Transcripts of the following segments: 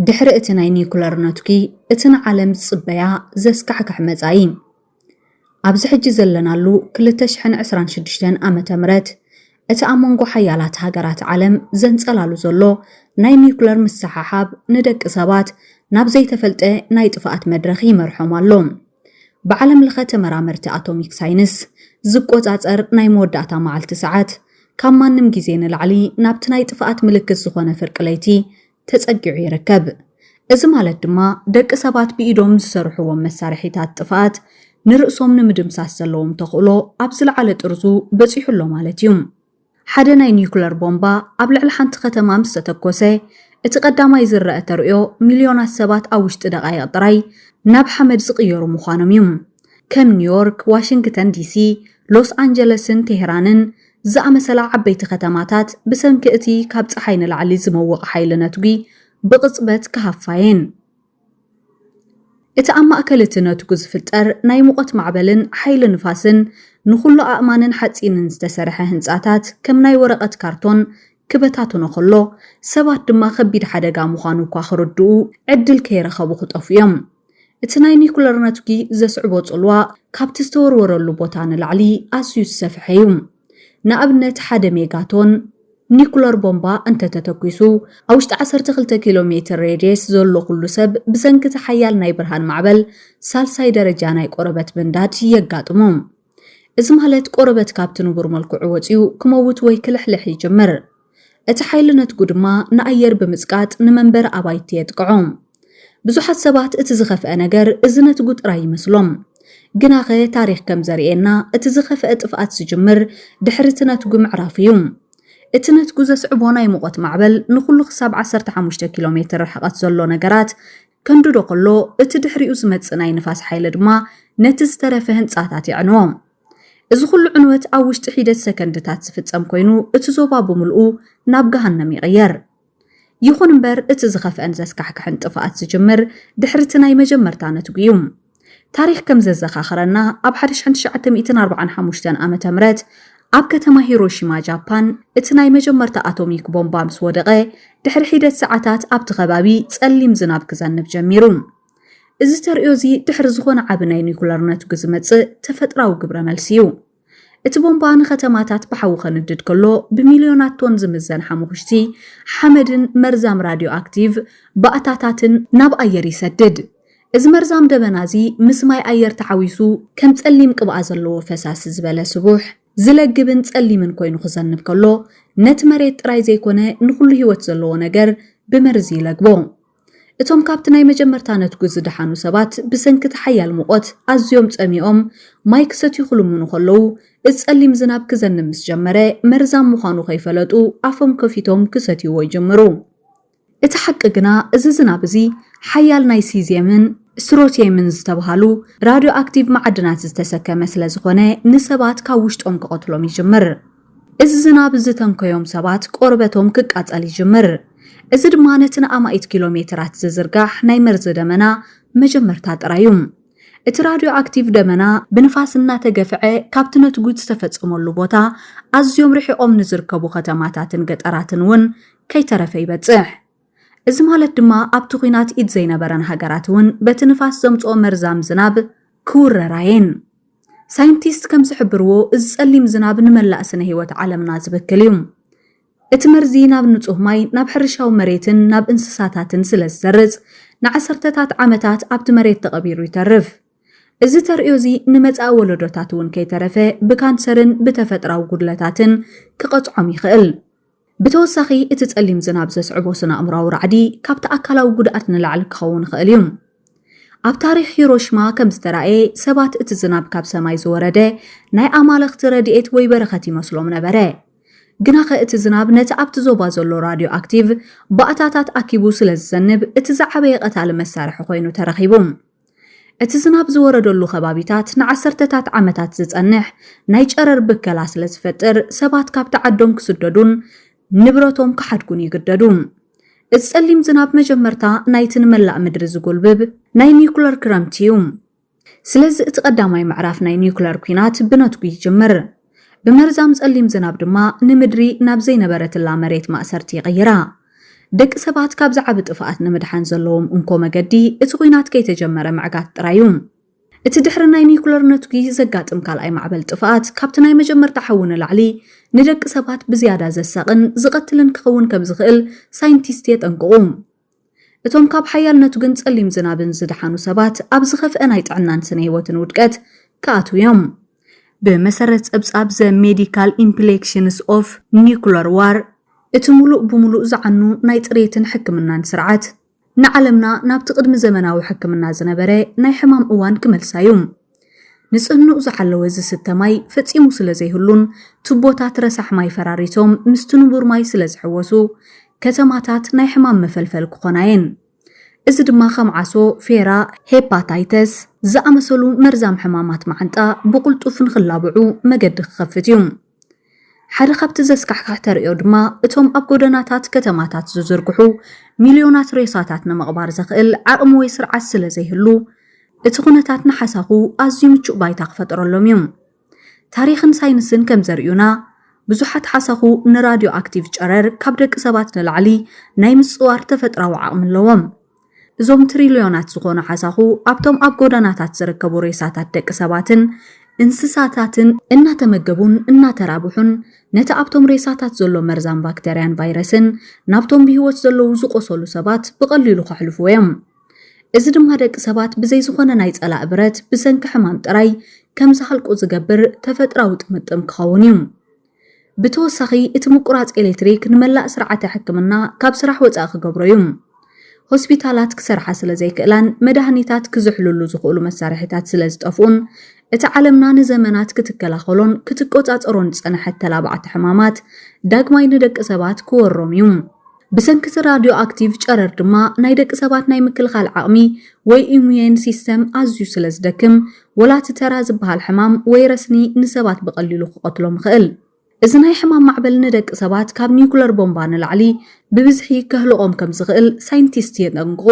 ድሕሪ እቲ ናይ ኒዩክለር ነትጒ፣ እቲ ንዓለም ዝጽበያ ዘስካሕክሕ መጻኢ፣ ኣብዚ ሕጂ ዘለናሉ ክልተ ሽሕን ዕስራን ሽዱሽተን ዓመተ ምህረት፣ እቲ ኣብ መንጎ ሓያላት ሃገራት ዓለም ዘንጸላሉ ዘሎ ናይ ኒዩክለር ምስሕሓብ ንደቂ ሰባት ናብ ዘይተፈልጠ ናይ ጥፍኣት መድረኽ ይመርሖም ኣሎ። ብዓለም ለኸ ተመራመርቲ ኣቶሚክ ሳይንስ ዝቆጻጸር ናይ መወዳእታ መዓልቲ ሰዓት፣ ካብ ማንም ግዜ ንላዕሊ ናብቲ ናይ ጥፍኣት ምልክት ዝኾነ ፍርቂ ለይቲ ተጸጊዑ ይርከብ። እዚ ማለት ድማ ደቂ ሰባት ብኢዶም ዝሰርሕዎም መሳርሒታት ጥፍኣት ንርእሶም ንምድምሳስ ዘለዎም ተኽእሎ ኣብ ዝለዓለ ጥርዙ በጺሑ ኣሎ ማለት እዩ። ሓደ ናይ ኒዩክለር ቦምባ ኣብ ልዕሊ ሓንቲ ከተማ ምስ ተተኮሰ፣ እቲ ቀዳማይ ዝረኣ ተርእዮ ሚልዮናት ሰባት ኣብ ውሽጢ ደቓይቕ ጥራይ ናብ ሓመድ ዝቕየሩ ምዃኖም እዩ። ከም ኒውዮርክ፣ ዋሽንግተን ዲሲ፣ ሎስ ኣንጀለስን ቴህራንን ዝኣመሰላ ዓበይቲ ከተማታት ብሰንኪ እቲ ካብ ጸሓይ ንላዕሊ ዝመውቕ ሓይሊ ነትጒ ብቕጽበት ክሃፋ እየን። እቲ ኣብ ማእከል እቲ ነትጒ ዝፍጠር ናይ ሙቐት ማዕበልን ሓይሊ ንፋስን ንዅሉ ኣእማንን ሓጺንን ዝተሰርሐ ህንጻታት ከም ናይ ወረቐት ካርቶን ክበታትኖ ከሎ፣ ሰባት ድማ ከቢድ ሓደጋ ምዃኑ እኳ ክርድኡ ዕድል ከይረኸቡ ክጠፍኡ እዮም። እቲ ናይ ኒኩለር ነትጒ ዘስዕቦ ጽልዋ ካብቲ ዝተወርወረሉ ቦታ ንላዕሊ ኣዝዩ ዝሰፍሐ እዩ። ንኣብነት ሓደ ሜጋቶን ኒኩለር ቦምባ እንተ ተተኲሱ፣ ኣብ ውሽጢ ዓሰርተ ክልተ ኪሎ ሜትር ሬድየስ ዘሎ ኩሉ ሰብ ብሰንኪ እቲ ሓያል ናይ ብርሃን ማዕበል ሳልሳይ ደረጃ ናይ ቆረበት ምንዳድ የጋጥሞ። እዚ ማለት ቆረበት ካብቲ ንቡር መልክዑ ወጺኡ ክመውት ወይ ክልሕልሕ ይጅምር። እቲ ሓይሊ ነትጉ ድማ ንኣየር ብምጽቃጥ ንመንበሪ ኣባይቲ የጥቅዖ። ብዙሓት ሰባት እቲ ዝኸፍኣ ነገር እዚ ነትጉ ጥራይ ይመስሎም። ግናኸ ታሪኽ ከም ዘርእየና እቲ ዝኸፍኣ ጥፍኣት ዝጅምር ድሕሪ እቲ ነትጉ ምዕራፍ እዩ። እቲ ነትጉ ዘስዕቦ ናይ ሙቐት ማዕበል ንኹሉ ክሳብ ዓሰርተ ሓሙሽተ ኪሎ ሜትር ርሕቐት ዘሎ ነገራት ከንድዶ ከሎ እቲ ድሕሪኡ ዝመጽእ ናይ ንፋስ ሓይሊ ድማ ነቲ ዝተረፈ ህንጻታት የዕንዎ። እዚ ኹሉ ዕንወት ኣብ ውሽጢ ሒደት ሰከንድታት ዝፍጸም ኮይኑ እቲ ዞባ ብምልኡ ናብ ገሃነም ይቕየር። ይኹን እምበር እቲ ዝኸፍአን ዘስካሕክሕን ጥፍኣት ዝጅምር ድሕሪ እቲ ናይ መጀመርታ ነትጒ እዩ። ታሪኽ ከም ዘዘኻኽረና፣ ኣብ ሓደ ሽሕን ትሽዓተ ሚእትን ኣርብዓን ሓሙሽተን ዓመተ ምህረት ኣብ ከተማ ሂሮሺማ ጃፓን እቲ ናይ መጀመርታ ኣቶሚክ ቦምባ ምስ ወደቐ ድሕሪ ሒደት ሰዓታት ኣብቲ ከባቢ ጸሊም ዝናብ ክዘንብ ጀሚሩ። እዚ ተርእዮ እዚ ድሕሪ ዝኾነ ዓቢ ናይ ኒኩለር ነትጒ ዝመጽእ ተፈጥራዊ ግብረ መልሲ እዩ። እቲ ቦምባ ንከተማታት ብሓዊ ከንድድ ከሎ፣ ብሚልዮናት ቶን ዝምዘን ሓሙኽሽቲ፣ ሓመድን መርዛም ራድዮኣክቲቭ ባእታታትን ናብ ኣየር ይሰድድ። እዚ መርዛም ደበና እዚ ምስ ማይ ኣየር ተሓዊሱ ከም ጸሊም ቅብኣ ዘለዎ ፈሳሲ ዝበለ ስቡሕ፣ ዝለግብን ጸሊምን ኮይኑ ክዘንብ ከሎ፣ ነቲ መሬት ጥራይ ዘይኮነ ንኹሉ ህይወት ዘለዎ ነገር ብመርዚ ይለግቦ። እቶም ካብቲ ናይ መጀመርታ ነትጒ ዝደሓኑ ሰባት ብሰንኪ እቲ ሓያል ሙቐት ኣዝዮም ጸሚኦም ማይ ክሰትዩ ክልምኑ ከለዉ፣ እቲ ጸሊም ዝናብ ክዘንብ ምስ ጀመረ መርዛም ምዃኑ ከይፈለጡ ኣፎም ከፊቶም ክሰትይዎ ይጅምሩ። እቲ ሓቂ ግና እዚ ዝናብ እዚ ሓያል ናይ ሲዝየምን ስትሮትየምን ዝተብሃሉ ራድዮኣክቲቭ መዓድናት ዝተሰከመ ስለዝኾነ ንሰባት ካብ ውሽጦም ክቐትሎም ይጅምር። እዚ ዝናብ እዚ ተንከዮም ሰባት ቆርበቶም ክቃጸል ይጅምር። እዚ ድማ ነቲ ንኣማኢት ኪሎ ሜተራት ዝዝርጋሕ ናይ መርዚ ደመና መጀመርታ ጥራይ እዩ። እቲ ራድዮኣክቲቭ ደመና ብንፋስ እናተገፍዐ ካብቲ ነትጒት ዝተፈጸመሉ ቦታ ኣዝዮም ርሒቖም ንዝርከቡ ከተማታትን ገጠራትን እውን ከይተረፈ ይበጽሕ። እዚ ማለት ድማ ኣብቲ ኲናት ኢድ ዘይነበረን ሃገራት እውን በቲ ንፋስ ዘምጽኦ መርዛም ዝናብ ክውረራ እየን። ሳይንቲስት ከም ዝሕብርዎ እዚ ጸሊም ዝናብ ንመላእ ስነ ህይወት ዓለምና ዝብክል እዩ። እቲ መርዚ ናብ ንጹህ ማይ፣ ናብ ሕርሻዊ መሬትን ናብ እንስሳታትን ስለ ዝሰርጽ ንዓሰርተታት ዓመታት ኣብቲ መሬት ተቐቢሩ ይተርፍ። እዚ ተርእዮ እዚ ንመጻኢ ወለዶታት እውን ከይተረፈ ብካንሰርን ብተፈጥራዊ ጉድለታትን ክቐጽዖም ይኽእል። ብተወሳኺ እቲ ጸሊም ዝናብ ዘስዕቦ ስነ-ኣእምሮኣዊ ራዕዲ ካብቲ ኣካላዊ ጉድኣት ንላዕሊ ክኸውን ይኽእል እዩ። ኣብ ታሪኽ ሂሮሽማ ከም ዝተራእየ፣ ሰባት እቲ ዝናብ ካብ ሰማይ ዝወረደ ናይ ኣማልኽቲ ረድኤት ወይ በረኸት ይመስሎም ነበረ። ግናኸ እቲ ዝናብ ነቲ ኣብቲ ዞባ ዘሎ ራድዮኣክቲቭ ባእታታት ኣኪቡ ስለ ዝዘንብ፣ እቲ ዝዓበየ ቀታሊ መሳርሒ ኰይኑ ተረኺቡ። እቲ ዝናብ ዝወረደሉ ከባቢታት ንዓሰርተታት ዓመታት ዝጸንሕ ናይ ጨረር ብከላ ስለ ዝፈጥር ሰባት ካብቲ ዓዶም ክስደዱን ንብረቶም ክሓድጉን ይግደዱ። እቲ ጸሊም ዝናብ መጀመርታ ናይቲ ንመላእ ምድሪ ዝጎልብብ ናይ ኒዩክለር ክረምቲ እዩ። ስለዚ እቲ ቀዳማይ ምዕራፍ ናይ ኒዩክለር ኲናት ብነትጒ ይጅምር። ብመርዛም ጸሊም ዝናብ ድማ ንምድሪ ናብ ዘይነበረትላ መሬት ማእሰርቲ ይቕይራ። ደቂ ሰባት ካብዚ ዓቢ ጥፍኣት ንምድሓን ዘለዎም እንኮ መገዲ እቲ ኲናት ከይተጀመረ ምዕጋት ጥራይ እዩ። እቲ ድሕሪ ናይ ኒዩክለር ነትጒ ዘጋጥም ካልኣይ ማዕበል ጥፍኣት ካብቲ ናይ መጀመርታ ሓዊ ንላዕሊ ንደቂ ሰባት ብዝያዳ ዘሳቕን ዝቐትልን ክኸውን ከምዝኽእል ሳይንቲስት የጠንቅቑ። እቶም ካብ ሓያል ነቱግን ጸሊም ዝናብን ዝደሓኑ ሰባት ኣብ ዝኸፍአ ናይ ጥዕናን ስነ ህይወትን ውድቀት ክኣትው እዮም። ብመሰረት ጸብጻብ ዘ ሜዲካል ኢምፕሌክሽንስ ኦፍ ኒኩለር ዋር፣ እቲ ምሉእ ብምሉእ ዝዓኑ ናይ ጽሬትን ሕክምናን ስርዓት፣ ንዓለምና ናብቲ ቅድሚ ዘመናዊ ሕክምና ዝነበረ ናይ ሕማም እዋን ክመልሳ እዩ። ንጽህንኡ ዝሓለወ ዝስተ ማይ ፈጺሙ ስለ ዘይህሉን ቱቦታት ረሳሕ ማይ ፈራሪሶም ምስቲ ንቡር ማይ ስለ ዝሕወሱ፣ ከተማታት ናይ ሕማም መፈልፈል ክኾና እየን። እዚ ድማ ከም ዓሶ፣ ፌራ፣ ሄፓታይተስ ዝኣመሰሉ መርዛም ሕማማት መዓንጣ ብቕልጡፍ ንኽላብዑ መገዲ ክኸፍት እዩ። ሓደ ኻብቲ ዘስካሕክሕ ተርእዮ ድማ እቶም ኣብ ጎደናታት ከተማታት ዝዝርግሑ ሚልዮናት ሬሳታት ንምቕባር ዘኽእል ዓቕሚ ወይ ስርዓት ስለ ዘይህሉ፣ እቲ ዅነታት ንሓሳኹ ኣዝዩ ምቹእ ባይታ ክፈጥረሎም እዩ። ታሪኽን ሳይንስን ከም ዘርእዩና፣ ብዙሓት ሓሳኹ ንራድዮኣክቲቭ ጨረር ካብ ደቂ ሰባት ንላዕሊ ናይ ምጽዋር ተፈጥሮኣዊ ዓቕሚ ኣለዎም። እዞም ትሪልዮናት ዝኾኑ ሓሳኹ ኣብቶም ኣብ ጎደናታት ዝርከቡ ሬሳታት ደቂ ሰባትን እንስሳታትን እናተመገቡን እናተራብሑን ነቲ ኣብቶም ሬሳታት ዘሎ መርዛም ባክተርያን ቫይረስን ናብቶም ብህይወት ዘለዉ ዝቖሰሉ ሰባት ብቐሊሉ ከሕልፍዎ እዮም። እዚ ድማ ደቂ ሰባት ብዘይ ዝኾነ ናይ ጸላኢ ብረት ብሰንኪ ሕማም ጥራይ ከም ዝሃልቁ ዝገብር ተፈጥራዊ ጥምጥም ክኸውን እዩ። ብተወሳኺ እቲ ምቁራጽ ኤሌክትሪክ ንመላእ ስርዓተ ሕክምና ካብ ስራሕ ወጻኢ ክገብሮ እዩ። ሆስፒታላት ክሰርሓ ስለ ዘይክእላን መድሃኒታት ክዝሕልሉ ዝኽእሉ መሳርሒታት ስለ ዝጠፍኡን፣ እቲ ዓለምና ንዘመናት ክትከላኸሎን ክትቆጻጸሮን ዝጸንሐት ተላባዕቲ ሕማማት ዳግማይ ንደቂ ሰባት ክወሮም እዩ። ብሰንኪ'ቲ ራድዮ ኣክቲቭ ጨረር ድማ ናይ ደቂ ሰባት ናይ ምክልኻል ዓቕሚ ወይ ኢሙዩን ሲስተም ኣዝዩ ስለ ዝደክም ወላ እቲ ተራ ዝበሃል ሕማም ወይ ረስኒ ንሰባት ብቐሊሉ ክቐትሎም ይኽእል። እዚ ናይ ሕማም ማዕበል ንደቂ ሰባት ካብ ኒኩለር ቦምባ ንላዕሊ ብብዝሒ ከህልቖም ከም ዝኽእል ሳይንቲስት የጠንቅቑ።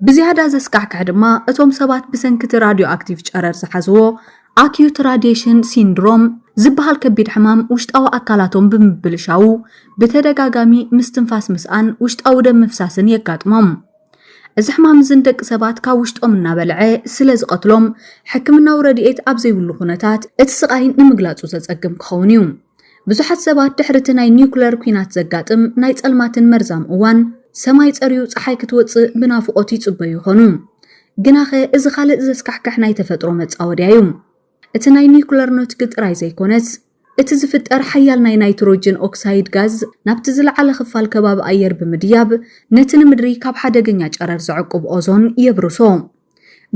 ብዝያዳ ዘስካሕክሕ ድማ እቶም ሰባት ብሰንኪ እቲ ራድዮኣክቲቭ ጨረር ዝሓዝዎ ኣክዩት ራድየሽን ሲንድሮም ዝበሃል ከቢድ ሕማም ውሽጣዊ ኣካላቶም ብምብልሻዉ ብተደጋጋሚ ምስትንፋስ ምስኣን ውሽጣዊ ደም ምፍሳስን የጋጥሞም። እዚ ሕማም እዚ ንደቂ ሰባት ካብ ውሽጦም እናበልዐ ስለ ዝቐትሎም ሕክምናዊ ረድኤት ኣብ ዘይብሉ ኩነታት እቲ ስቓይ ንምግላጹ ዘጸግም ክኸውን እዩ። ብዙሓት ሰባት ድሕሪ እቲ ናይ ኒዩክለር ኲናት ዘጋጥም ናይ ጸልማትን መርዛም እዋን፣ ሰማይ ጸርዩ ጸሓይ ክትወጽእ ብናፍቖት ይጽበዩ ይዀኑ። ግናኸ እዚ ኻልእ ዘስካሕክሕ ናይ ተፈጥሮ መጻወድያ እዩ። እቲ ናይ ኒዩክለር ኖትግ ጥራይ ዘይኰነስ፣ እቲ ዝፍጠር ሓያል ናይ ናይትሮጅን ኦክሳይድ ጋዝ ናብቲ ዝለዓለ ኽፋል ከባቢ ኣየር ብምድያብ ነቲ ንምድሪ ካብ ሓደገኛ ጨረር ዘዕቍብ ኦዞን የብርሶ።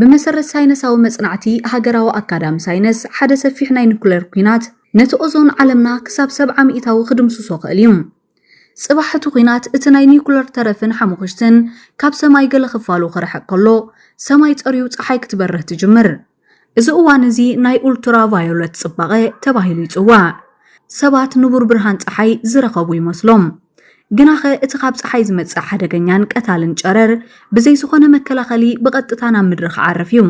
ብመሰረት ሳይነሳዊ መጽናዕቲ ሃገራዊ ኣካዳሚ ሳይነስ፣ ሓደ ሰፊሕ ናይ ኑክሌር ኲናት ነቲ ኦዞን ዓለምና ክሳብ ሰብዓ ሚእታዊ ክድምስሶ ክእል እዩ። ጽባሕ እቲ ኲናት እቲ ናይ ኑክሌር ተረፍን ሓሙኽሽትን ካብ ሰማይ ገለ ክፋሉ ክርሕቅ ከሎ፣ ሰማይ ጸርዩ ጸሓይ ክትበርህ ትጅምር። እዚ እዋን እዚ ናይ ኡልትራ ቫዮለት ጽባቐ ተባሂሉ ይጽዋዕ። ሰባት ንቡር ብርሃን ጸሓይ ዝረኸቡ ይመስሎም። ግናኸ እቲ ካብ ጸሓይ ዝመጽእ ሓደገኛን ቀታልን ጨረር ብዘይ ዝኾነ መከላኸሊ ብቐጥታ ናብ ምድሪ ክዓርፍ እዩ።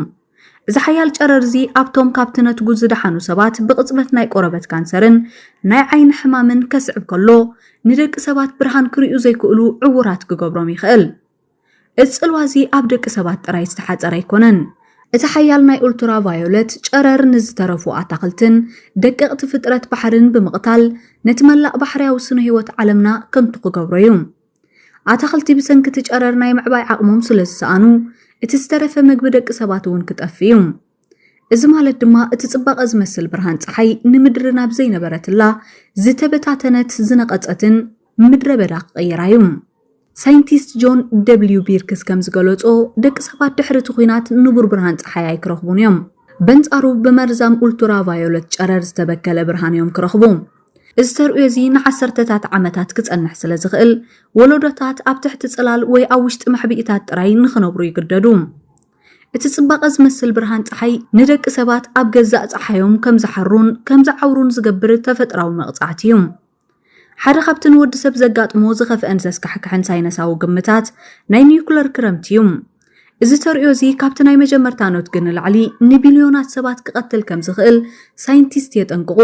እዚ ሓያል ጨረር እዚ ኣብቶም ካብቲ ነትጉ ዝደሓኑ ሰባት ብቕጽበት ናይ ቆረበት ካንሰርን ናይ ዓይኒ ሕማምን ከስዕብ ከሎ ንደቂ ሰባት ብርሃን ክርእዩ ዘይክእሉ ዕዉራት ክገብሮም ይኽእል። እዚ ጽልዋ እዚ ኣብ ደቂ ሰባት ጥራይ ዝተሓጸረ ኣይኮነን። እቲ ሓያል ናይ ኡልትራቫዮለት ጨረር ንዝተረፉ ኣታኽልትን ደቀቕቲ ፍጥረት ባሕርን ብምቕታል ነቲ መላእ ባሕርያዊ ስነ-ህይወት ዓለምና ከንቱ ክገብሮ እዩ። ኣታኽልቲ ብሰንኪ እቲ ጨረር ናይ ምዕባይ ዓቕሞም ስለዝሰኣኑ እቲ ዝተረፈ መግቢ ደቂ ሰባት እውን ክጠፍእ እዩ። እዚ ማለት ድማ እቲ ጽባቐ ዝመስል ብርሃን ጸሓይ ንምድሪ ናብ ዘይነበረትላ ዝተበታተነት ዝነቐጸትን ምድረ በዳ ክቕይራ እዩ። ሳይንቲስት ጆን ደብሊው ቢርክስ ከም ዝገለጾ፣ ደቂ ሰባት ድሕሪ እቲ ኲናት ንቡር ብርሃን ጸሓይ ኣይክረኽቡን እዮም። በንጻሩ ብመርዛም ኡልቱራቫዮለት ጨረር ዝተበከለ ብርሃን እዮም ክረኽቡ። እዚ ተርእዮ እዚ ንዓሰርተታት ዓመታት ክጸንሕ ስለ ዝኽእል፣ ወለዶታት ኣብ ትሕቲ ጽላል ወይ ኣብ ውሽጢ መሕብኢታት ጥራይ ንኽነብሩ ይግደዱ። እቲ ጽባቐ ዝመስል ብርሃን ጸሓይ ንደቂ ሰባት ኣብ ገዛእ ጸሓዮም ከም ዝሓሩን ከም ዝዓውሩን ዝገብር ተፈጥራዊ መቕጻዕቲ እዩ። ሓደ ካብቲ ንወዲ ሰብ ዘጋጥሞ ዝኸፍአን ዘስካሕክሕን ሳይነሳዊ ግምታት ናይ ኒዩክለር ክረምቲ እዩ። እዚ ተርእዮ እዚ ካብቲ ናይ መጀመርታ ኖትግ ንላዕሊ ንቢልዮናት ሰባት ክቐትል ከም ዝኽእል ሳይንቲስት የጠንቅቑ።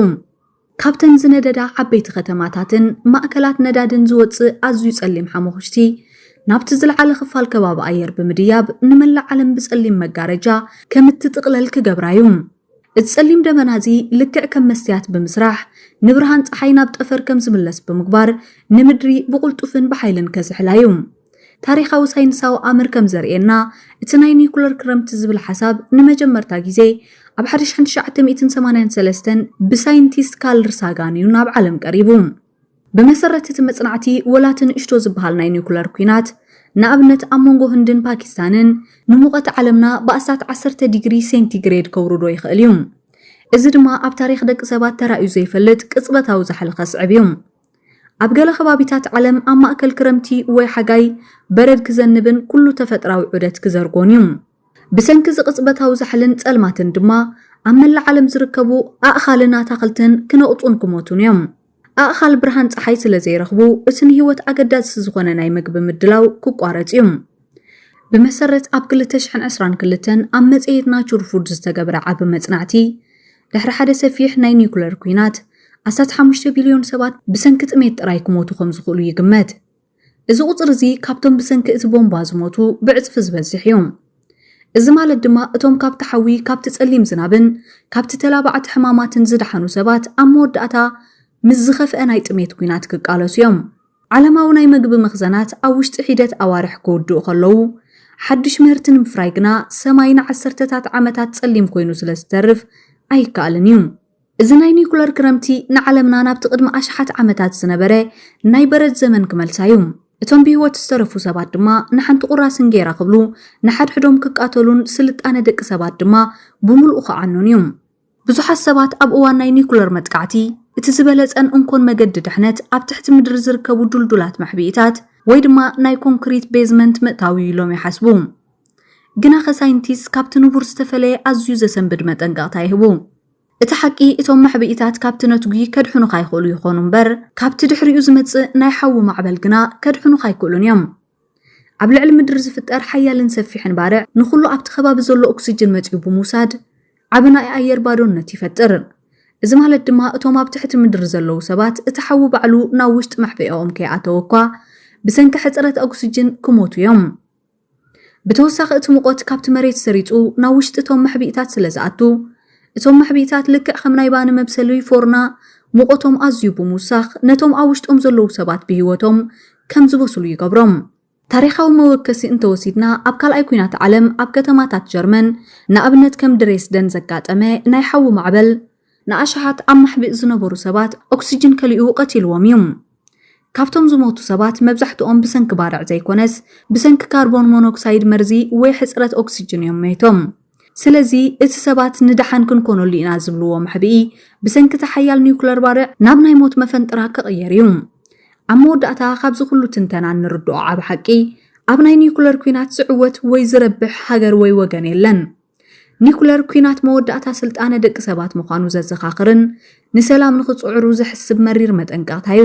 ካብተን ዝነደዳ ዓበይቲ ከተማታትን ማእከላት ነዳድን ዝወጽእ ኣዝዩ ጸሊም ሓሙኽሽቲ፣ ናብቲ ዝለዓለ ክፋል ከባቢ ኣየር ብምድያብ ንመላእ ዓለም ብጸሊም መጋረጃ ከም እትጥቕለል ክገብራ እዩ። እዚ ጸሊም ደበና እዚ ልክዕ ከም መስትያት ብምስራሕ፣ ንብርሃን ጸሓይ ናብ ጠፈር ከም ዝምለስ ብምግባር፣ ንምድሪ ብቕልጡፍን ብሓይልን ከዝሕላ እዩ። ታሪኻዊ ሳይንሳዊ ኣምር ከም ዘርእየና፣ እቲ ናይ ኒዩክለር ክረምቲ ዝብል ሓሳብ ንመጀመርታ ግዜ ኣብ ሓደ ሽሕን ትሽዓተ ሚእትን ሰማንያን ሰለስተን ብሳይንቲስት ካርል ሳጋን እዩ ናብ ዓለም ቀሪቡ። ብመሰረት እቲ መጽናዕቲ፣ ወላ እቲ ንእሽቶ ዝበሃል ናይ ኒዩክለር ኲናት፣ ንኣብነት ኣብ መንጎ ህንድን ፓኪስታንን፣ ንሙቐት ዓለምና ብኣስታት ዓሰርተ ዲግሪ ሴንቲግሬድ ከውርዶ ይኽእል እዩ። እዚ ድማ ኣብ ታሪኽ ደቂ ሰባት ተራእዩ ዘይፈልጥ ቅጽበታዊ ዛሕሊ ከስዕብ እዩ። ኣብ ገለ ከባቢታት ዓለም ኣብ ማእከል ክረምቲ ወይ ሓጋይ በረድ ክዘንብን ኩሉ ተፈጥራዊ ዑደት ክዘርጎን እዩ። ብሰንኪ እዚ ቅጽበታዊ ዛሕልን ጸልማትን ድማ ኣብ መላእ ዓለም ዝርከቡ ኣእኻልን ኣታኽልትን ክነቕጹን ክሞቱን እዮም። ኣእኻል ብርሃን ጸሓይ ስለ ዘይረኽቡ እቲ ንህይወት ኣገዳሲ ዝኾነ ናይ መግቢ ምድላው ክቋረጽ እዩ። ብመሰረት ኣብ ክልተ ሽሕን ዕስራን ክልተን ኣብ መጽሔት ናቹር ፉድ ዝተገብረ ዓቢ መጽናዕቲ፣ ድሕሪ ሓደ ሰፊሕ ናይ ኒዩክለር ኲናት፣ ኣስታት ሓሙሽተ ቢልዮን ሰባት ብሰንኪ ጥሜት ጥራይ ክሞቱ ከም ዝኽእሉ ይግመት። እዚ ቁጽሪ እዚ ካብቶም ብሰንኪ እቲ ቦምባ ዝሞቱ ብዕጽፊ ዝበዝሕ እዩ። እዚ ማለት ድማ እቶም ካብቲ ሓዊ፣ ካብቲ ጸሊም ዝናብን ካብቲ ተላባዕቲ ሕማማትን ዝደሓኑ ሰባት ኣብ መወዳእታ ምስ ዝኸፍአ ናይ ጥሜት ኲናት ክቃለሱ እዮም። ዓለማዊ ናይ መግቢ መኽዘናት ኣብ ውሽጢ ሒደት ኣዋርሕ ክውድኡ ከለዉ፣ ሓድሽ ምህርቲ ንምፍራይ ግና ሰማይ ንዓሰርተታት ዓመታት ጸሊም ኮይኑ ስለ ዝተርፍ ኣይከኣልን እዩ። እዚ ናይ ኒኩለር ክረምቲ ንዓለምና ናብቲ ቅድሚ ኣሽሓት ዓመታት ዝነበረ ናይ በረድ ዘመን ክመልሳ እዩ። እቶም ብህይወት ዝተረፉ ሰባት ድማ ንሓንቲ ቁራስ እንጌራ ክብሉ ንሓድሕዶም ክቃተሉን ስልጣነ ደቂ ሰባት ድማ ብምሉኡ ክዓኑን እዩ። ብዙሓት ሰባት ኣብ እዋን ናይ ኒዩክለር መጥቃዕቲ፣ እቲ ዝበለጸን እንኮን መገዲ ድሕነት ኣብ ትሕቲ ምድሪ ዝርከቡ ድልዱላት መሕብኢታት ወይ ድማ ናይ ኮንክሪት ቤዝመንት ምእታው እዩ ኢሎም ይሓስቡ። ግናኸ ሳይንቲስት ካብቲ ንቡር ዝተፈለየ ኣዝዩ ዘሰንብድ መጠንቀቕታ ይህቡ። እቲ ሓቂ እቶም መሕብኢታት ካብቲ ነትጒ ከድሕኑኻ ይኽእሉ ይኾኑ እምበር ካብቲ ድሕሪኡ ዝመጽእ ናይ ሓዊ ማዕበል ግና ከድሕኑኻ ኣይክእሉን እዮም። ኣብ ልዕሊ ምድሪ ዝፍጠር ሓያልን ሰፊሕን ባርዕ ንኹሉ ኣብቲ ከባቢ ዘሎ ኦክስጅን መጺኡ ብምውሳድ ዓቢ ናይ ኣየር ባዶነት ይፈጥር። እዚ ማለት ድማ እቶም ኣብ ትሕቲ ምድሪ ዘለዉ ሰባት እቲ ሓዊ ባዕሉ ናብ ውሽጢ መሕበኤኦም ከይኣተወ እኳ ብሰንኪ ሕጽረት ኦክስጅን ክሞቱ እዮም። ብተወሳኺ እቲ ሙቐት ካብቲ መሬት ሰሪጹ ናብ ውሽጢ እቶም መሕብኢታት ስለ ዝኣቱ እቶም መሕብኢታት ልክዕ ከም ናይ ባኒ መብሰሊ ፎርና ሙቐቶም ኣዝዩ ብምውሳኽ ነቶም ኣብ ውሽጦም ዘለዉ ሰባት ብህይወቶም ከም ዝበስሉ ይገብሮም። ታሪኻዊ መወከሲ እንተወሲድና ኣብ ካልኣይ ኩናት ዓለም ኣብ ከተማታት ጀርመን ንኣብነት ከም ድሬስደን ዘጋጠመ ናይ ሓዊ ማዕበል፣ ንኣሽሓት ኣብ ማሕቢእ ዝነበሩ ሰባት ኦክስጅን ከሊኡ ቀቲልዎም እዩ። ካብቶም ዝሞቱ ሰባት መብዛሕትኦም ብሰንኪ ባርዕ ዘይኮነስ ብሰንኪ ካርቦን ሞኖክሳይድ መርዚ ወይ ሕጽረት ኦክስጅን እዮም ሞይቶም። ስለዚ እቲ ሰባት ንደሓን ክንኰነሉ ኢና ዝብልዎ መሕብኢ፣ ብሰንኪ እቲ ሓያል ኒዩክለር ባርዕ ናብ ናይ ሞት መፈንጥራ ክቕየር እዩ። ኣብ መወዳእታ፣ ካብዚ ዅሉ ትንተና እንርድኦ ዓቢ ሓቂ፣ ኣብ ናይ ኒዩክለር ኲናት ዝዕወት ወይ ዝረብሕ ሃገር ወይ ወገን የለን። ኒዩክለር ኲናት መወዳእታ ስልጣነ ደቂ ሰባት ምዃኑ ዘዘኻኽርን ንሰላም ንኽጽዕሩ ዘሕስብ መሪር መጠንቀቕታ እዩ።